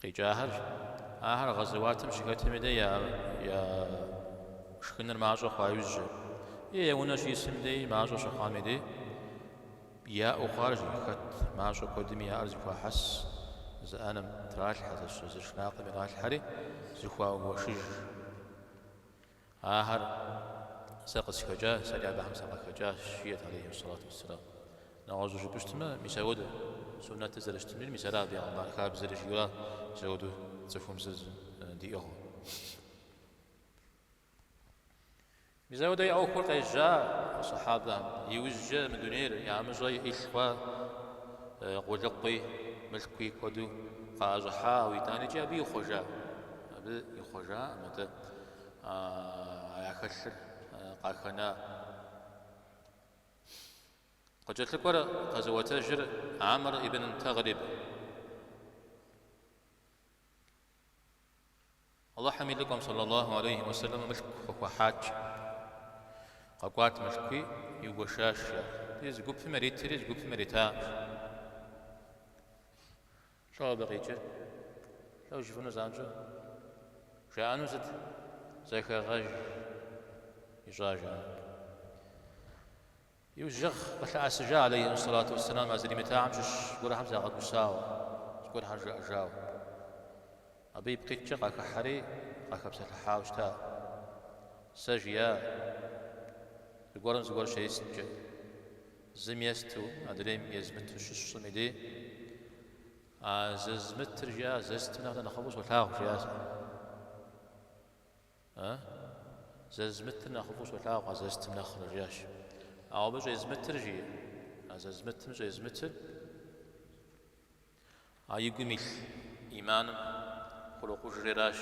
къикӏахэрщ. Ахэр гъэзэуатым щыхэтми дей я шхыныр мащӏэ хъуа иужькӏэ, е я унэ щӏисым дей мащӏэ щыхъуами дей, яӏэу хъуар зэрыхэт мащӏэ куэдми яӏэр зыхуахьэс зы ӏэнэм тралъхьэ, зы шынакъым иралъхьэри, зыхуаугуэшыж. Ахэр сэ къысхэкӏа, сэри абыхэм сакъыхэкӏащ, жиӏэрт алейхьи уссалату уссалам. Нэгъуэщӏу жыпӏэщтмэ, мис ауэдэ суннэтыр зэрыщытми, мис ара бегъымбар хабзэри жиӏэра мис ауэду цӏыхум зыр диӏыгъыу. Мис ауэдэ я ӏуэхур къежьа а сахьабэхэм. Иужькӏэ мы дунейр яӏэмыщӏэ илъ хъуа къулыкъуи, мылъкуи куэду къаӏэщӏыхьауэ итӏанэкӏи абы ихъуэжа? Абы ихъуэжаӏым атӏэ. яхэлъыр къахэна. Къыкӏэлъыкӏуэр къэзыӏуэтэжыр Амр ибн Тагълиб. Аллахьым и лӏыкӏуэм саллаллаху алейхи уэсэлэм мылъку къыхуахьащ. Къэкӏуат мылъкуи иугуэшащ. Зы гупым иритри, зы гупым ирита. Лӏо абы къикӏыр? Лӏо ущыфыну занщӏэу? Жаӏэну сыт? зэхэгъэж ищӏа жаӏэ. Иужьыгъ къылъыӏэсыжа алейхьэссалату уэсселам а зыримытахэм щыщ гуэрхэм загъэгусауэ, зыгуэрхэр жаӏэжауэ. Абы ипкъ иткӏэ къахыхьэри къахэпсэлъыхьауэ щыта. Сэ жиӏа? Зыгуэрым зыгуэр щесткӏэ, зым есту, адрейм езмыту щысщӏым идей, а зезмытыр жиӏа зестым нэхърэ нэхъыфӏу солъагъу, жиӏащ ар. А? Зезмытыр нэхъыфӏу солъагъу а зестым нэхърэ, жиӏащ. Ауэ абы щӏезмытыр жи, а зезмытым щӏезмытыр? А и гум илъ ӏиманым хурокъужри аращ.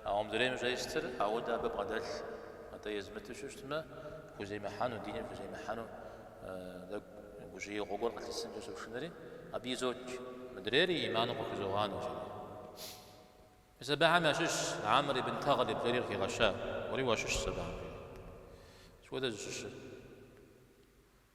Ауэ мыдрейм щӏестыр ауэдэ абы бгъэдэлъ. Атӏэ езмыту щыщтмэ, хуземыхьэну, диныр хуземыхьэну тӏэкӏу гужьеигъуэ гуэр къылъысынкӏэ сошынэри абы изотч. Мыдрейр и ӏиманым къыхузогъанэ жери. Мис абыхэм ящыщщ Амр ибн Тагълиб жери къыхигъэща. Уэри уащыщщ абыхэм жери. Сыт хуэдэ зыщыщыр?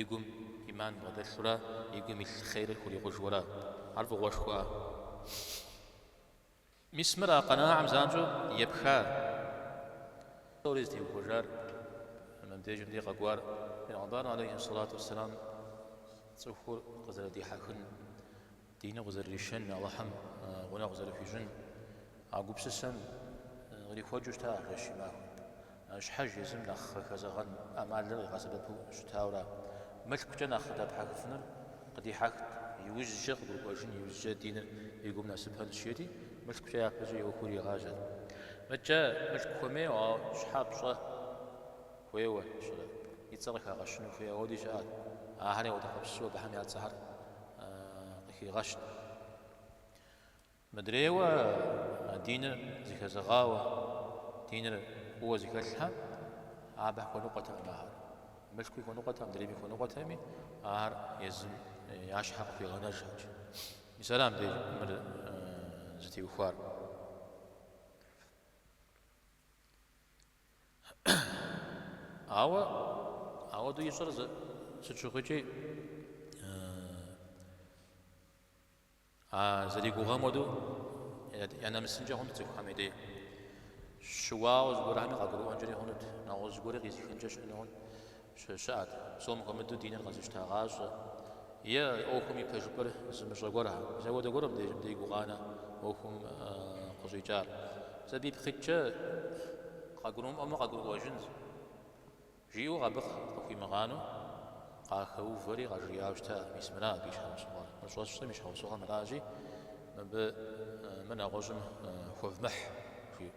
и гум ӏиман бгъэдэлъурэ и гум илъ хъерыр хурикъужурэ. Ар фӏыгъуэшхуа? Мис мыр а къэнагъым занщӏэу епхар, псори зытеухуэжар, мыбдежым дей къэкӏуар Пейгъэмбарым алейхьи сэлату уэсселам цӏыхур къызэрыдихьэхын Диныр къызэрыришэн, Алыхьым гъунэгъу къызэрыхуищӏын а гупсысэм кърихуэкӏыу щыта ар жэщи махуэм. Щхьэж езым нэхъ къыхэзэгъэн ӏэмалыр къигъэсэбэпу щытауэра, мылъкукӏэ нэхъ къыдэпхьэхыфынур къыдихьэхт, иужькӏэ къыгурыӏуэжын, иужькӏэ диныр и гум нэсыпэн жиӏэти, мылъкукӏэ япэкӏэ ӏуэхур иригъажьэрт. Мыдэкӏэ мылъку хуэмейуэ, ауэ щхьэ пщӏэ хуейуэ щӏырэ? И цӏэр къыхагъэщыну хуей ауэди щыӏэт. Ахэр егъэдэхъуэпсу абыхэм я цӏэхэр къыхигъэщт. Мыдрейуэ а диныр зыхэзэгъауэ, диныр фӏыуэ зыхэлъхэм, абы хуэныкъуэтэкъым ахэр. Мылъкуи хуэныкъуэтэкъым, мыдрейми хуэныкъуэтэкъыми, ахэр езым я щхьэ къыхуигъэнэжырт. Мис арам дей мыр зытеухуар. Ауэ ауэдэу ищӏэр сыт щыгъуикӏи, а зэригугъэм хуэдэу я нэмысынкӏэ хъунт цӏыхухэм и дей. Щыуауэ зыгуэрхэми къагурыӏуэнкӏэри хъунут, нэгъуэщӏ зыгуэри къизыхынкӏэ щыӏэну хъунт. Щыӏэт, псом хуэмыдэу диныр къэзыщтагъащӏэ. Е ӏуэхум и пэжыпӏэр зымыщӏэ гуэрхэ. Мис ауэдэ гуэрым дей гукъанэ ӏуэхум къыщӏикӏар. Сабий пхыкӏкӏэ къагурымыӏуэмэ къагурыӏуэжынщ, жиӏэу абы къыхуимыгъанэу къахэувэри къажриӏауэ щыта мис мыра абы и щхьэусыгъуэр. Мы щӏэсщӏэм и щхьэусыгъуэр мыращи, мыбы мыр нэгъуэщӏым хуэвмыхь, жиӏэу.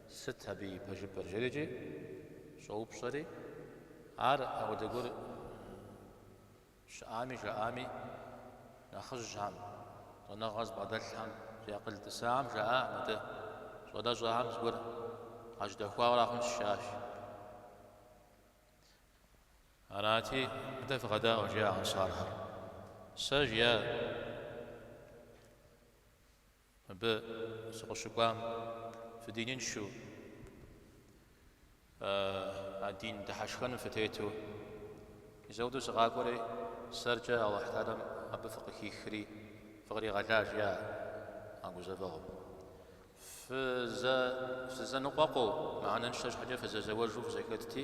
Сыт абы и пэжыпӏэр? жери икӏи щӏоупщӏэри, ар апхуэдэ гуэр щыӏами жаӏами, нэхъыжьхэм, щӏэныгъэ зыбгъэдэлъхэм, зи акъыл тӏысахэм жаӏа, Мыдэ, щӏалэщӏэхэм зыгуэр къажьэдэхуауэ ара хъунщ, жаӏащ. Арати, Мыдэ фыкъэдаӏуэ, жиӏа, ансархэр. Сэ, жиӏа. Мыбы сыкъыщыкӏуам фыдиныншэу, а дин дыхьэшхэным фытету, мис ауэдэу сыкъакӏуэри, сэркӏэ Алыхьталэм абы фыкъыхихри фыкъригъэлар, жиӏа, а гузэвэгъуэм. Фызэныкъуэкъуу, мыхьэнэншэ щхьэкӏэ фызэзэуэжу фызэхэтти,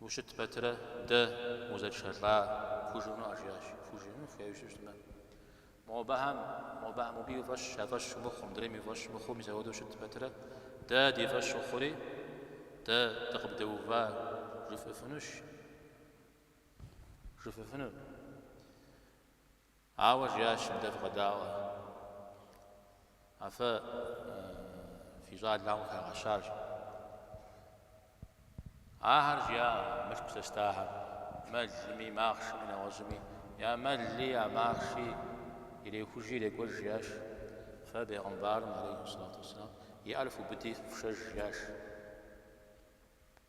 Ущыт пэтырэ дэ узэтшэлӏа. Фхужыӏэну, жиӏащ. Фхужыӏэну хуейуэ щыщытмэ. Мобыхэм, мобыхэм мобы и фӏэщ, я фӏэщ мыхъуу, мыдрейм и фӏэщ мыхъуу, мис ауэдэу ущыт пэтырэ дэ ди фӏэщ ухъури, дэ дыкъыбдэува жыфӏыфынущ, жыфӏэфынур. Ауэ жиӏащ мыдэ фыкъэдаӏуэ, афэ фи щӏалэм къыхагъэщаращ. Ахэр жиӏа мылъку зэстахэр, мэлми, махъшэми, нэгъуэщӏми, я мэлли, я махъши ирехужи ирекӏуэж, жиӏащ. Фэ Бейгъымбарым, алейхьи салату уссалам, и ӏэр фыубыди, фышэж, жиӏащ.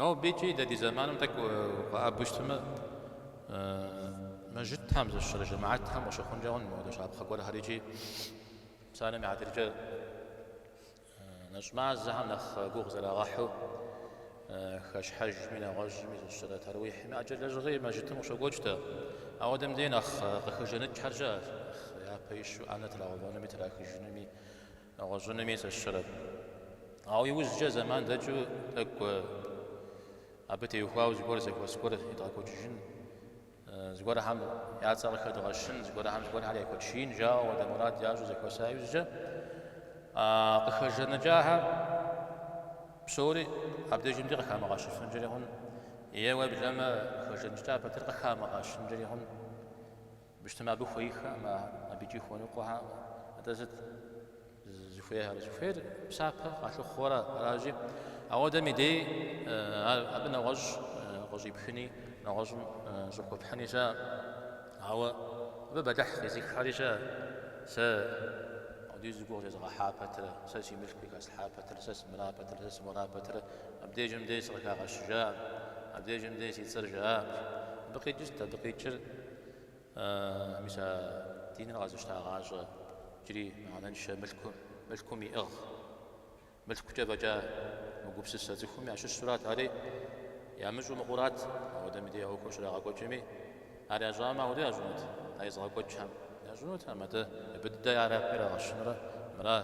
Нобэ икӏи дэ ди зэманым тӏэкӏу укъэӏэбэу щытмэ, Мэжытхьэм зыщыщэрэ жэмаӏэтхэм къыщыхъункӏэ хъун мыпхуэдэ щапхъэ гуэрхэр икӏи псалъэм и хьэтыркӏэ нэщӏ мазэхэм нэхъ гугъу зэрагъэхьу хэщхьэжми, нэгъуэщӏми зыщыщэрэ таруихьми ӏэджэ лэжьыгъи Мэжытым къыщокӏуэкӏ тӏэ. Ауэдэм дей нэхъ къыхэжэныкӏхэр щыӏэщ, нэхъ япэ ищу ӏэнэ трагъэувэнуми трахыжынуми. Нэгъуэщӏынуми сыщырэт. Ауэ иужькӏэ зэман дэкӏыу тӏэкӏу абы теухуауэ зыгуэр зэхуэс гуэр едгъэкӏуэкӏыжын, зыгуэрхэм я цӏэр къыхэдгъэщын, зыгуэрхэм зыгуэрхэр яхуэтшиин жаӏэу апхуэдэ мурад ящӏу зэхуэса иужькӏэ къыхэжэныкӏахэм псори абдежым дей къыхамыгъэщыфынкӏэри хъун, е уеблэмэ къыхэжэныкӏа пэтыр къыхамыгъэщынкӏэри хъун. Быщтым абы хуейхэкъым ар, абы икӏи хуэныкъуэхэкъым. Атӏэ сыт зыхуейхэр? Зыхуейр псапэ къалъыхъуэурэ аращи, ауэдэм и дей ар абы нэгъуэщӏ къыщӏипхыни, нэгъуэщӏым щӏыхуэпхьыни щыӏэкъым. Ауэ абы бэлыхь къизыххэри щыӏэт, сэ апхуэдизу гугъу зезыгъэхьа пэтрэ, сэ си мылъкуи хэслъхьа пэтрэ, сэ сымыра пэтрэ, сэ сымуэра пэтрэ, абдежым дей сыкъыхагъэщыжакъым, абдежым дей си цӏэр жаӏакъым. Абы къикӏырт, абы къикӏыр Мис а диныр къэзыщтагъащӏэ иджыри мыхьэнэншэ мылъкум иӏыгъ. Мылъкукӏэ фӏэкӏа мыгупсысэ цӏыхуми ящыщурат ари, ямыщӏу мыхъурат, ауэдэм дей ӏуэхур щрагъэкӏуэкӏми, ар ящӏамэ ауэдэ ящӏынут, а езыгъэкӏуэкӏхэм ящӏынут, а мыдэ мыбы дыдэ ар абы ирагъэщынурэ, мыра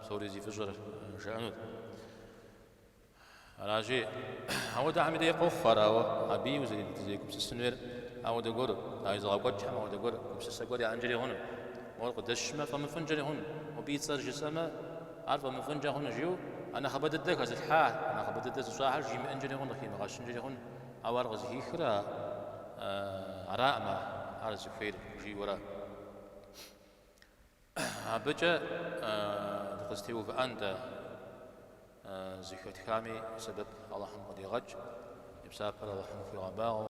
псори зи фӏыщӏэр жыӏэнут. Аращи, ауэдэхэм дей къохъуф ар, ауэ абыи узэрегупсысын хуейр ауэдэ гуэру, а езыгъэкӏуэкӏхэм ауэдэ гуэр гупсысэ гуэр яӏэнкӏэри хъуну? Мор къыдэсшмэ, фӏэмыфӏынкӏэри хъуну? Мобы и цӏэр жысӏэмэ, ар фӏэмыфӏынкӏэ хъуну? жиӏэу а нэхъыбэ дыдэ хэзылъхьа, а нэхъыбэ дыдэ зыщӏахьэр жимыӏэнкӏэри хъуну, къыхимыгъэщынкӏэри хъуну? Ауэ ар къызыхихыр араӏымэ, ар зыхуейр жиӏэурэ. Абыкӏэ дыкъызэтеувыӏэн дэ, зэхэтхами сэбэп Алыхьым къыдигъэкӏ, и псапэр Алыхьым хуигъэбагъуэ.